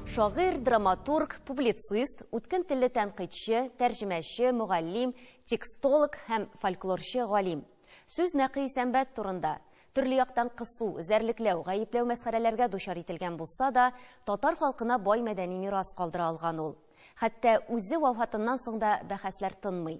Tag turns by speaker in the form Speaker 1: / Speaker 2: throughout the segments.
Speaker 1: Шагыйрь, драматург, публицист, үткен телле тәнкыйтьче, тәрҗемәче, мөгаллим, текстолог һәм фольклорчы галим. Сүз Нәкый Сәмбәт турында. Төрле яктан кысу, эзәрлекләү, гаепләү мәсхәрәләргә дучар ителгән булса да, татар халкына бай мәдәни мирас калдыра алган ул. Хәтта үзе вафатыннан соң да бәхәсләр тынмый.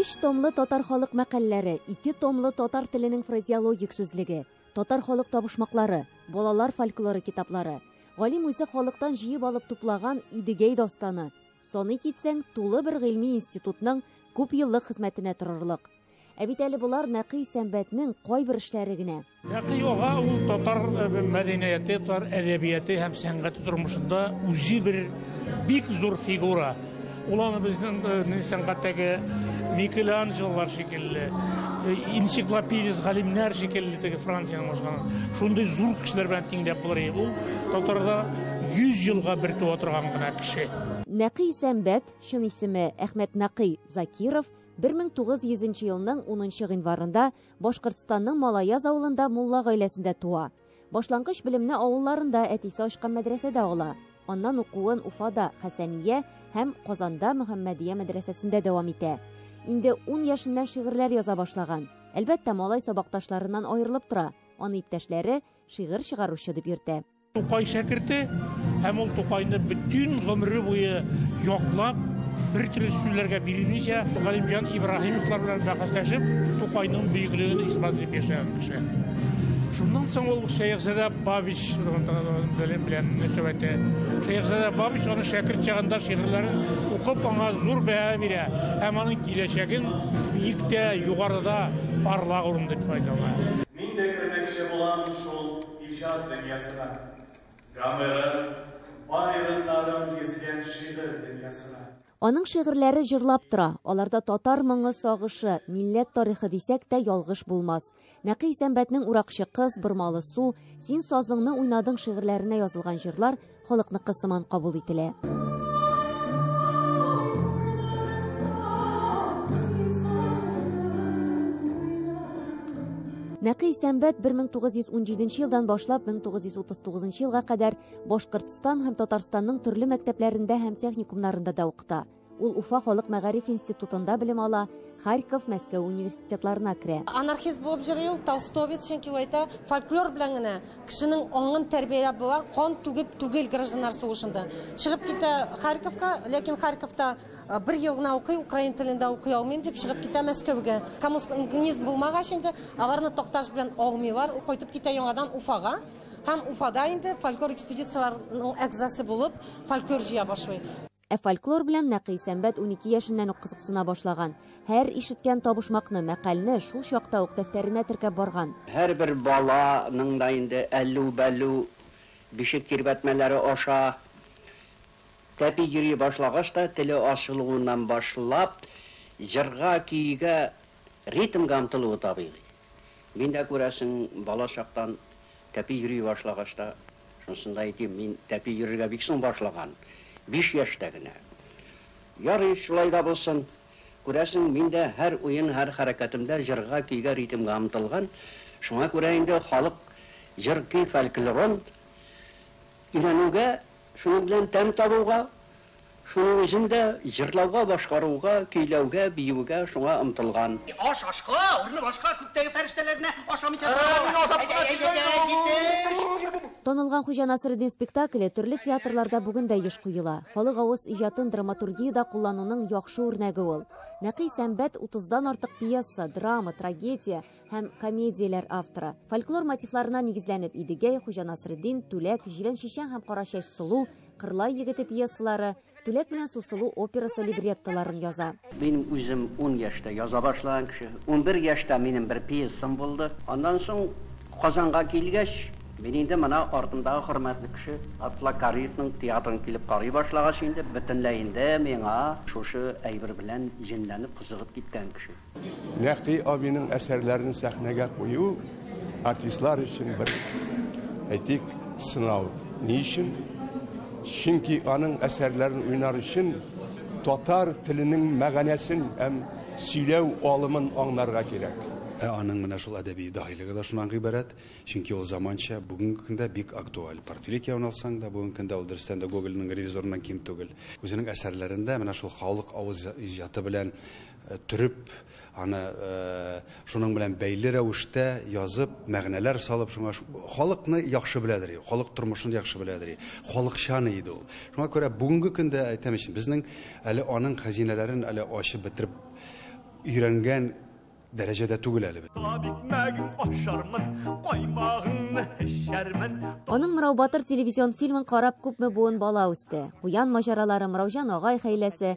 Speaker 1: Өч томлы татар халык мәкальләре, ике томлы татар теленең фразеологик сүзлеге, татар халык табышмаклары, балалар фольклоры китаплары, галим үзе халыктан җыеп алып туплаган Идегәй дастаны, саный китсәң, тулы бер гыйльми институтның күп еллык хезмәтенә торырлык. Ә бит әле болар Нәкый Сәмбәтнең кайбер эшләре генә. Нәкый ага ул татар э, мәдәнияте, татар әдәбияты һәм сәнгате тормышында үзе бер бик зур фигура. Ул аны безнең э, сәнгатьтәге Микеланджелолар шикелле, э, энциклопедист галимнәр шикелле теге Франциянең башканы. Шундый зур кешеләр белән тиңдәп булыр иде. Ул татарда 100 елга бер туа торган гына кеше. Нәкый Сәмбәт, чын исеме Әхмәт Нәкый Закиров, 1900 нче елның 10 нчы гыйнварында Башкортстанның Малаяз авылында мулла гаиләсендә туа. Башлангыч белемне авылларында әтисе ачкан мәдрәсәдә ала. Аннан укуын Уфада, Хәсәния һәм Казанда Мөхәммәдия мәдрәсәсендә дәвам итә. Инде 10 яшеннән шигырьләр яза башлаган. Әлбәттә, малай сабакташларыннан аерылып тора. Аны иптәшләре шигырь чыгаручы дип йөртә. Тукай шәкерте һәм ул Тукайны бөтен гомере буе яклап, бер төрле сүзләргә бирелмичә, Галимҗан Ибраһимовлар белән бәхәсләшеп, Тукайның бөеклеген исбат итеп яшәгән кеше. Шуннан соң ул Шәехзадә Бабич белән белән мөнәсәбәте. Шәехзадә Бабич аны шәкерт чагында шигырьләрен укып, аңа зур бәһа бирә һәм аның киләчәген биектә, югарыда, парлак урында дип файдалана. Мин дә кермәкче булам шул Иҗат дөньясына, гомерен, бай рыннарын гизгән шигырь дөньясына. Аның шигырьләре җырлап тора, аларда татар моңы, сагышы, милләт тарихы дисәк тә ялгыш булмас. Нәкый Исәнбәтнең Уракчы кыз, Бормалы су, Син сазыңны уйнадың шигырьләренә язылган җырлар халыкныкы сыман кабул ителә. Нәкый Сәмбәт 1917 елдан башлап 1939 елга кадәр Башкортстан һәм Татарстанның төрле мәктәпләрендә һәм техникумнарында да укыта. Ул Уфа халык мәгариф институтында белем ала, Харьков, Мәскәү университетларына керә. Анархист булып җыри ул толстовец, чөнки әйтә, фольклор белән генә кешенең аңын тәрбияләп була, кан түгеп түгел гражданнар сугышында. Чыгып китә Харьковка, ләкин Харьковта э, бер ел гына укый, украин телендә укый алмыйм дип чыгып китә Мәскәүгә. Коммунизм булмагач инде аларны такташ белән алмыйлар, ул кайтып китә яңадан Уфага һәм Уфада инде фольклор экспедицияләренең әгъзасы булып фольклор җыя башлый. Ә фольклор белән Нәкый Сәмбәт унике яшеннән үк кызыксына башлаган. Һәр ишеткән табышмакны, мәкальне шул чакта ук дәфтәренә теркәп барган. Һәрбер бала ның да инде әллү-бәллү бишек тирбәтмәләре аша тәпи йөри башлагач та, теле ачылуыннан башлап, җырга, көйгә, ритмга омтылуы табигый. Мин дә, күрәсең, бала чактан тәпи йөри башлагач та, шунысын да әйтим, мин тәпи йөрергә бик соң башлаган, биш яшьтә генә. Ярый, шулай да булсын. Күрәсең, мин дә һәр уен, һәр хәрәкәтемдә җырга, көйгә, ритмга омтылган. Шуңа күрә инде халык җыр-көй фольклорын өйрәнүгә, шуның белән тәм табуга Шуның өчен дә җырлауга, башкаруга, көйләүгә, биюгә шуңа омтылган. Аш ашка, урны башка, күктәге фәрештәләр генә ашамыйча торалар. Танылган Хуҗа Насретдин спектакле төрле театрларда бүген дә еш куела. Халык авыз иҗатын драматургиядә куллануның яхшы үрнәге ул. Нәкый сәнбәт, утыздан артык пьеса, драма, трагедия, һәм комедияләр авторы. Фольклор мотивларына нигезләнеп Идегәй, Хуҗа Насретдин, Түләк, Җирән чишән һәм Кара чәч сылу, Кырлай егете пьесалары, Түләк белән Сусылу операсы либреттоларын яза. Мин үзем ун яшьтә яза башлаган кеше. Унбер яшьтә минем бер пьесам булды. Аннан соң Казанга килгәч, мин инде менә артымдагы хөрмәтле кеше Габдулла Кариевның театрын килеп карый башлагач инде, бөтенләй инде миңа шушы әйбер белән җенләнеп, кызыгып киткән кеше. Нәкъи абиның әсәрләрен сәхнәгә кую артистлар өчен бер әйтик сынау. Ни өчен? Чөнки аның әсәрләрен уйнар өчен татар теленең мәгәнәсен һәм сөйләү алымын аңнарга кирәк. Ә аның менә шул әдәби даһилеге да шуннан гыйбарәт, чөнки ул заманча, бүгенге көндә бик актуаль. Портфеле кияүне алсаң да, бүгенге көндә ул дөрестән дә Гогольның ревизорыннан ким түгел. Үзенең әсәрләрендә менә шул халык авыз иҗаты белән төреп, аны шуның белән бәйле рәвештә язып, мәгънәләр салып, шуңа халыкны яхшы беләдер иде, халык тормышын яхшы беләдер иде, халыкчан иде ул. Шуңа күрә бүгенге көндә әйтәм өчен, безнең әле аның хәзинәләрен әле ачып бетереп өйрәнгән дәрәҗәдә түгел әле без. Кабат икмәгең ашармын, каймагыңны эчәрмен. Аның Мырау батыр телевизион фильмын карап күпме буын бала үсте. Куян маҗаралары, Мыраужан агай хәйләсе,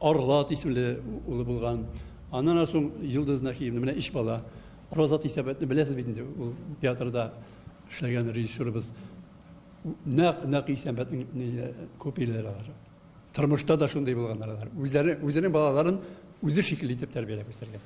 Speaker 1: Аргат исемле улы булган. Аннан соң Йолдыз Нәхиевна, менә өч бала. Роза Тисәбәтне беләсез бит инде, ул театрда эшләгән режиссерыбыз. Нәкъ нәкъ Исәнбәтнең копияләре алар. Тормышта да шундый булганнар алар. Үзләре үзенең балаларын үзе шикелле итеп тәрбияләп үстергән.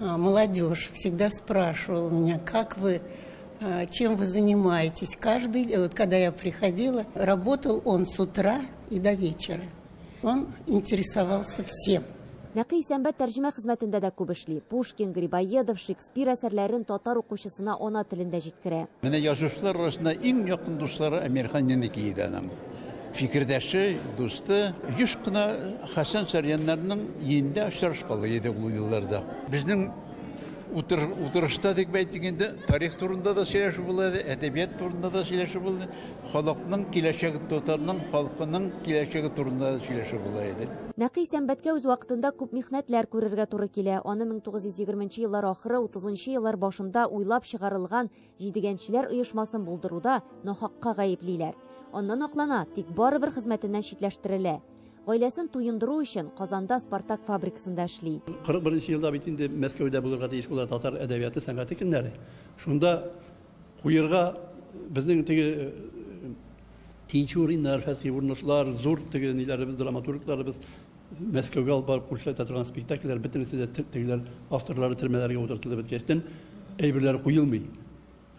Speaker 1: А, молодежь всегда спрашивала меня, как вы а, чем вы занимаетесь. Каждый, э, вот когда я приходила, работал он с утра и до вечера. Он интересовался всем. Нәкый сәнбәт тәрҗемә хезмәтендә дә күп эшли. Пушкин, Грибоедов, Шекспир әсәрләрен татар укучысына ана телендә җиткерә. Менә язучылар арасында иң якын дуслары Әмирхан Янекиевның. Фикердәше, дусты еш кына Хәсән Сарьяннарның йиендә очрашкалы иде ул елларда. Безнең утыр, утырышта дип әйтик инде, тарих турында да сөйләшү була иде, әдәбият турында да сөйләшү булды, халыкның киләчәге, татарның халкының киләчәге турында да сөйләшү була иде. Нәкый сәнбәткә үз вакытында күп михнәтләр күрергә туры килә. Аны 1920 нчы еллар ахыры, 30 нчы еллар башында уйлап чыгарылган Җидегәнчеләр оешмасын булдыруда нахакка гаеплиләр. Аннан аклана, тик барыбер хезмәтеннән читләштерелә. Гаиләсен туендыру өчен Казанда Спартак фабрикасында эшли. 41 елда бит инде Мәскәүдә булырга тиеш була татар әдәбияты, сәнгате көннәре. Шунда куерга безнең теге Тинчуриннар, Фәтхи Урнышлар, зур теге ниләребез, драматургларыбыз Мәскәүгә алып барып күрсәтә торган спектакльләр бөтенесе дә тегеләр авторлары төрмәләргә утыртылып беткәчтен әйберләр куелмый.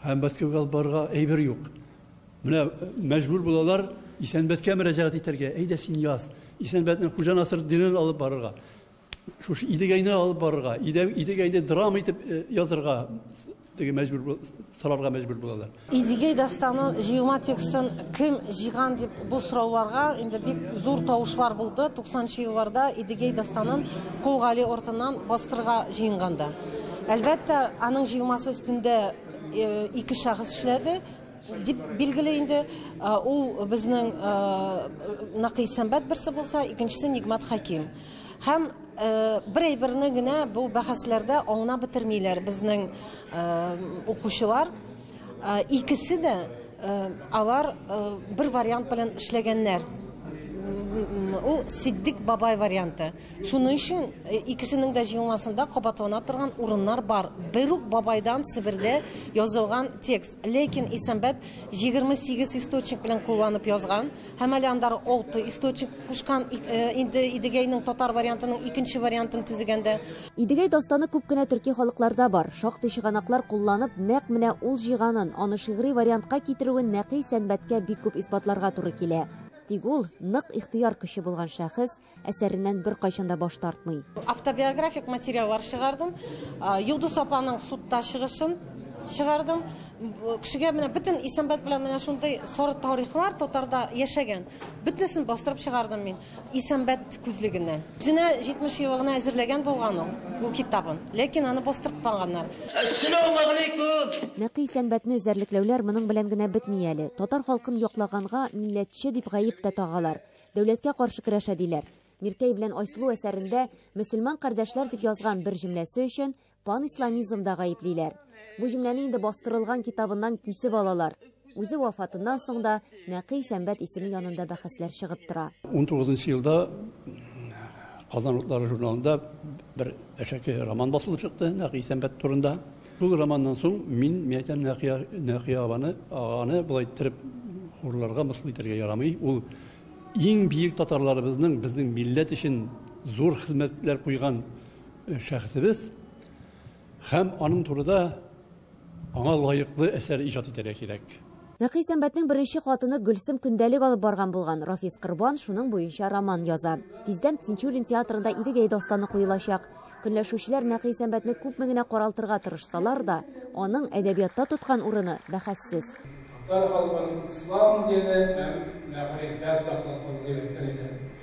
Speaker 1: Һәм Мәскәүгә алып барырга әйбер юк. Менә э, мәҗбүр булалар Исәнбәткә мөрәҗәгать итәргә. Әйдә син яз. Исәнбәтнең Хуҗа Насыр динен алып барырга. Шушы Идегәйне алып барырга, Идегәйне драма итеп э, язырга Теге мәҗбүр бу- сорарга мәҗбүр булалар. Идигей дастаны җыелма текстын кем җыйган дип бу сорауларга инде бик зур тавышлар булды. 90 елларда Идигей дастанын Кол Гали артыннан бастырырга җыенганда. Әлбәттә, аның җыелмасы өстендә э, ике шәхес эшләде. Дип билгели инде. Ул безнең Накый Сәмбәт берсе булса, икенчесе Нигмат Хәким. Һәм бер әйберне генә бу бәхәсләрдә аңнап бетермиләр безнең укучылар. Икесе дә алар бер вариант белән эшләгәннәр. Ул Сиддик бабай варианты. Шуның өчен икесенең дә җыелмасында кабатлана торган урыннар бар. Бер үк бабайдан Себердә язылган текст. Ләкин Исәнбәт 28 источник белән кулланып язган, һәм әле анда 6 источник кушкан инде Идегәйнең татар вариантының икенче вариантын төзегәндә. Идегәй дастаны күп кенә төрки халыкларда бар. Шактый чыганаклар кулланып, нәкъ менә ул җыйганын, аны шигъри вариантка китерүен нәкый Сәнбәткә бик күп исбатларга туры килә. Тик ул, нык ихтыяр көче булган шәхес, әсәреннән беркайчан да баш тартмый. Автобиографик материаллар чыгардым. Йолдыз апаның судта чыгышын чыгардым. Кешегә менә бөтен Исәнбәт белән менә шундый соры тарихлар татарда яшәгән. Бөтенесен бастырып чыгардым мин Исәнбәт күзлегеннән. Үзенә 70 еллыгына әзерләгән булган ул бу китабын, ләкин аны бастыртмаганнар. Ассаламу алейкум! Нәкый Исәнбәтне эзәрлекләүләр моның белән генә бетми әле. Татар халкын яклаганга милләтче дип гаеп тә тагалар. Дәүләткә каршы көрәшә, диләр. Миркәй белән Айсылу әсәрендә мөселман кардәшләр дип язган бер җөмләсе өчен панисламизмда гаеплиләр. Бу җөмләне инде бастырылган китабыннан кисеп алалар. Үзе вафатыннан соң да Нәкый Сәмбәт исеме янында бәхәсләр чыгып тора. Унтугызынчы елда Казан утлары журналында бер әшәке роман басылып чыкты Нәкый Сәмбәт турында. Шул романнан соң мин мәйтәм Нәкыя, Нәкыя абаны, аганы болай иттереп хурларга, мыскыл итәргә ярамый. Ул иң биек татарларыбызның безнең милләт өчен зур хезмәтләр куйган э, шәхесебез һәм аның турыда аңа лаеклы әсәр иҗат итәргә кирәк. Нәкый Сәмбәтнең беренче хатыны Гөлсем көндәлек алып барган булган, Рафис Корбан шуның буенча роман яза. Тиздән Тинчурин театрында Идегәй дастаны куелачак. Көнләшүчеләр Нәкый Сәмбәтне күпме генә каралтырга тырышсалар да, аның әдәбиятта тоткан урыны бәхәссез. Татар халкын ислам дине һәм мәгарифләр саклап калу кирәк, дигән иде.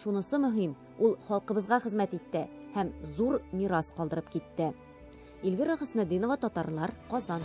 Speaker 1: Шунысы мөһим, ул халкыбызга хезмәт итте һәм зур мирас калдырып китте. Эльвира Хөснетдинова, Татарлар, Казан.